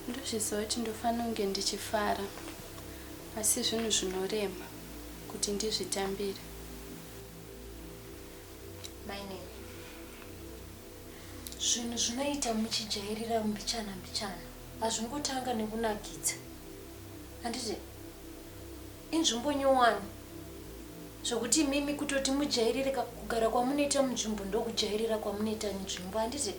ndozviziva kuti ndofanira kunge ndichifara asi zvinhu zvinorema kuti ndizvitambire Zvinhu zvinoita muchijairira mbichana mbichana hazvingotanga nekunakidza handiti inzvimbo nyowani zvekuti imimi kutoti mujairire kugara kwamunoita munzvimbo ndokujairira kwamunoita nzvimbo handiti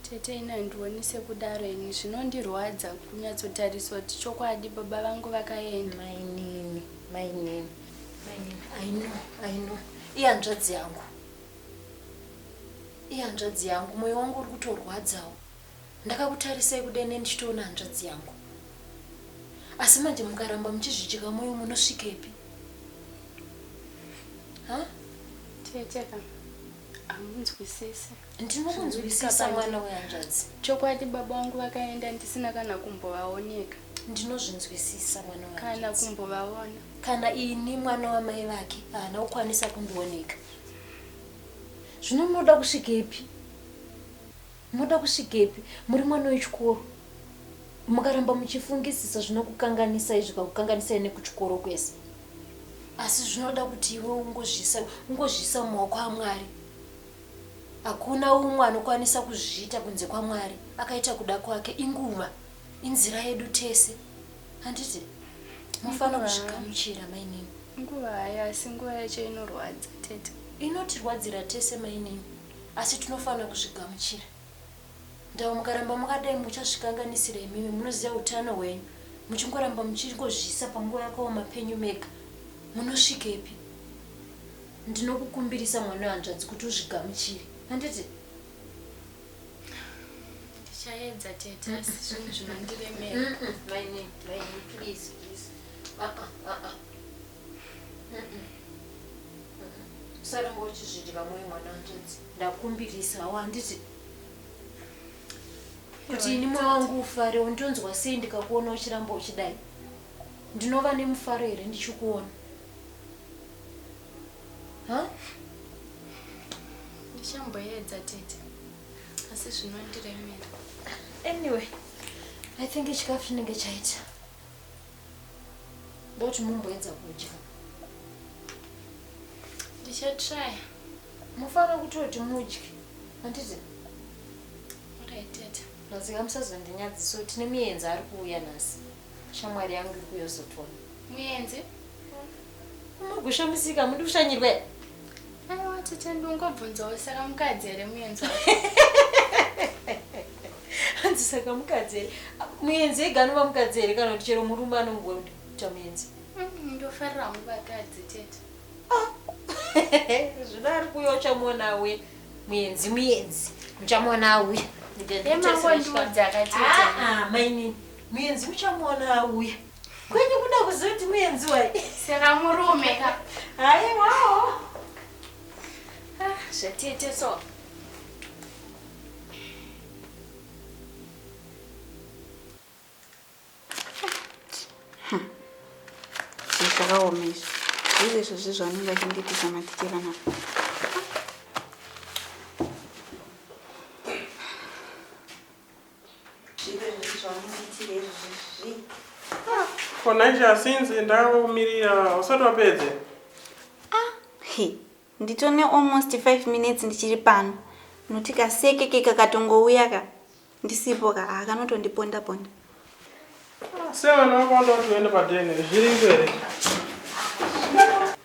Tete ini handioni sekudaro ini zvinondirwadza kunyatsotariswa kuti chokwadi baba vangu vakaenda. Mainini, mainini, mainini, I know, I know. Ihanzvadzi yangu. Ihanzvadzi yangu, moyo wangu uri kutorwadzawo. Ndakakutarisai kudene ndichitoona hanzvadzi yangu. Asi manje mukaramba muchizvicheka moyo munosvikepi? Ha? Tete ka, hamunzwisise. ndinokunzwisisa mwana wehanzvadzi chokwadi baba vangu vakaenda ndisina kana kumbovaoneka ndinozvinzwisisa mwana kana kumbovaona kana ini mwana wamai vake haana kukwanisa kundioneka zvino munoda kusvikepi munoda kusvikepi muri mwana wechikoro mukaramba muchifungisisa zvinokukanganisai zvikakukanganisai nekuchikoro kwese asi zvinoda kuti iwe ungozvisa ungozvisa mumaoko amwari Hakuna umwe anokwanisa kuzviita kunze kwaMwari. Akaita kuda kwake. Inguva. Inzira yedu tese. Handiti? Mofana kuzvigamuchira, mainini. Nguva hayo, asi nguva yacho inorwadza, tete. Inotirwadzira tese, mainini. Asi tinofana kuzvigamuchira. Ndau mukaramba makadai muchazvikanganisira imimi munoziva utano hwenyu muchingoramba muchingozviisa panguva yakaoma penyu mega munosvikepi ndinokukumbirisa mwana wehanzvadzi kuti uzvigamuchire handiti ndichaedza tete asi zvinhu zvinondiremera mm, mm, maine maine please please ah, ah, ah, ah. Mm, mm. usaramba uchizvidira mwoyo mwana hanzvadzi ndakumbirisa awo handiti kuti ini mwoyo wangu ufare undonzwa sei ndikakuona uchiramba uchidai ndinova nemufaro here ndichikuona ndichamboedza tete asi zvinondiremera anyway i think chikafu chinenge chaita ndoti mumboedza kudya ndichatraya mufanira kutoti mudye handiti mazika musazondinyadzisa kuti tine muyenzi ari kuuya nhasi shamwari yangu ikuyozotoona muyenzi Mugusha musika muri kushanyirwa here? Aiwa tete ndingobvunzawo saka mukadzi here muyenzi hanzi saka mukadzi here muyenzi ega anova mukadzi here kana kuti chero murume anongoita muyenzi mm, ndofarira hangu vakadzi tete ah. zvino ari kuuya uchamuona uye muyenzi muyenzi muchamuona auya emangondiudzakatete ah, ah, mainini muyenzi muchamuona auya Kwenyu kuda kuzoti muenzi wai. Sera murume ka. Hayi wawo. Ah, zvatete so. zvakaomeswa zviri izvo zvezvaunenge achindiitisa matikira na konaisha sinzi ndakakumirira usati wapedze ah, nditone almost 5 minutes ndichiri pano noti kasekeke kakatongouya ka ndisipo ka ah, kanotondiponda ponda ah, sevana vakonda kuti uende padene zviri ngwere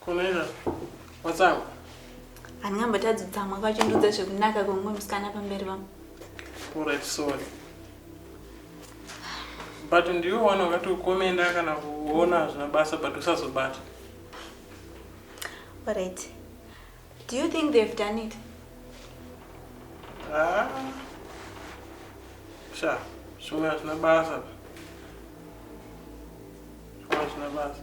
Kunera, watsamwa? Handingambatadzi kutsamwa kwacho ndiudza zvekunaka kwemumwe musikana pamberi vangu. Alright, sorry. But ndiwe wana wakati ukomenda kana kuona hazvina basa but usazobata. Alright. Do you think they've done it? Ah. Sha, zvimwe hazvina basa. Zvimwe hazvina basa.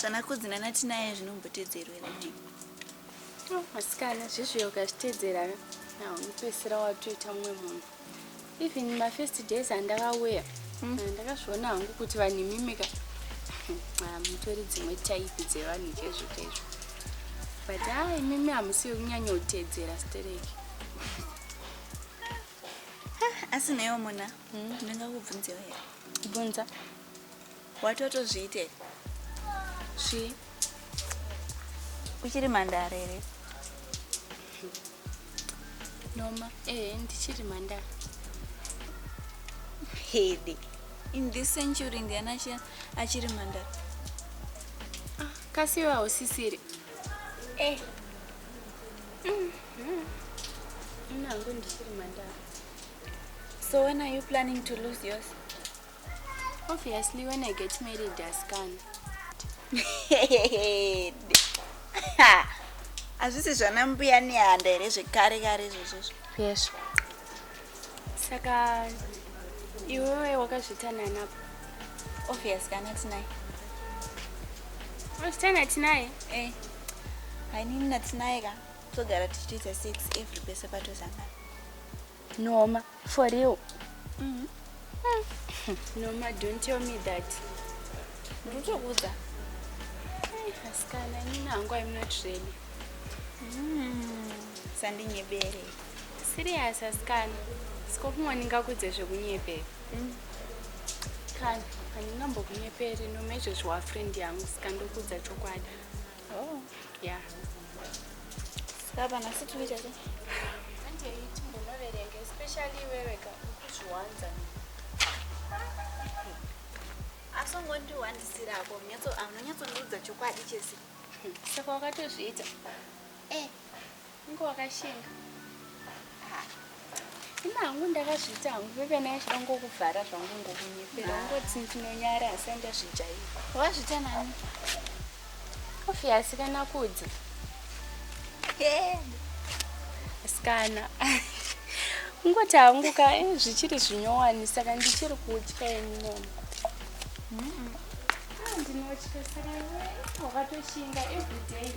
zvanakudzi nanatinaye zvinombotedzerwa rinei masikana zvezviyo ukazvitedzera unopedzisira watoita mumwe munhu even mafirst days andakauya hmm. eh, ndakazviona hangu kuti vanhu imimika ah, mutori dzimwe type dzevanhu chaizvo chaizvo but a ah, imimi hamusi yokunyanya kutedzera stereki ah, asi naiwo muna hmm. ndingakubvunzewo here bvunza watotozviite svi uchiri mhandara here noma ehe ndichiri mhandara hede in this century ndiani achi- achiri mhandara kasiwe hausisiri eh nangu ndichiri mhandara so when are you planning to lose yours Obviously when I get married asikana. Hazvisi zvana mbuya nehanda here zvekare kare izvozvozvo? Yes. Saka iwewe wakazvita nani apa? Obvious kana tinaye. Wakazvita natinaye? Eh. Hainini natinaye ka. Togara tichiita sex every pese patozangana. Noma, for real. Mm -hmm. Noma, don't tell me that. Ndotokuudza. Asikana, ini nangu I'm not ready. Mm. Sandinyebere. Serious asikana. Sikokumwa ndingakudze zvekunyebera. Mm. Kana, handingambokunyeperi noma izvozvo wafriend yangu saka ndokudza chokwadi. Oh, yeah. Baba, nhasi tinoita sei? Handei timbonoverenga, especially wewe ka ukuzviwanza. Asi ungondiwandisira ako, unonyatso- unonyatsonuudza chokwadi chese. Saka wakatozviita. Eh, Unge wakashinga. Ah. Ina hangu ndakazviita hangu bebe naye zvida ngokuvhara zvangu ngokunyepera ah. ungoti ndinonyara asi andazvijaira. Wazviita nani? Kofi asikana kudzi. Asikana. Ungoti hangu ka eh, zvichiri zvinyowani saka ndichiri kutya ini. Mm -mm. Ah, ndinotya saka iwe wakatoshinga everyday.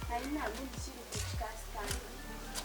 Haina hangu ndichiri kutya saka.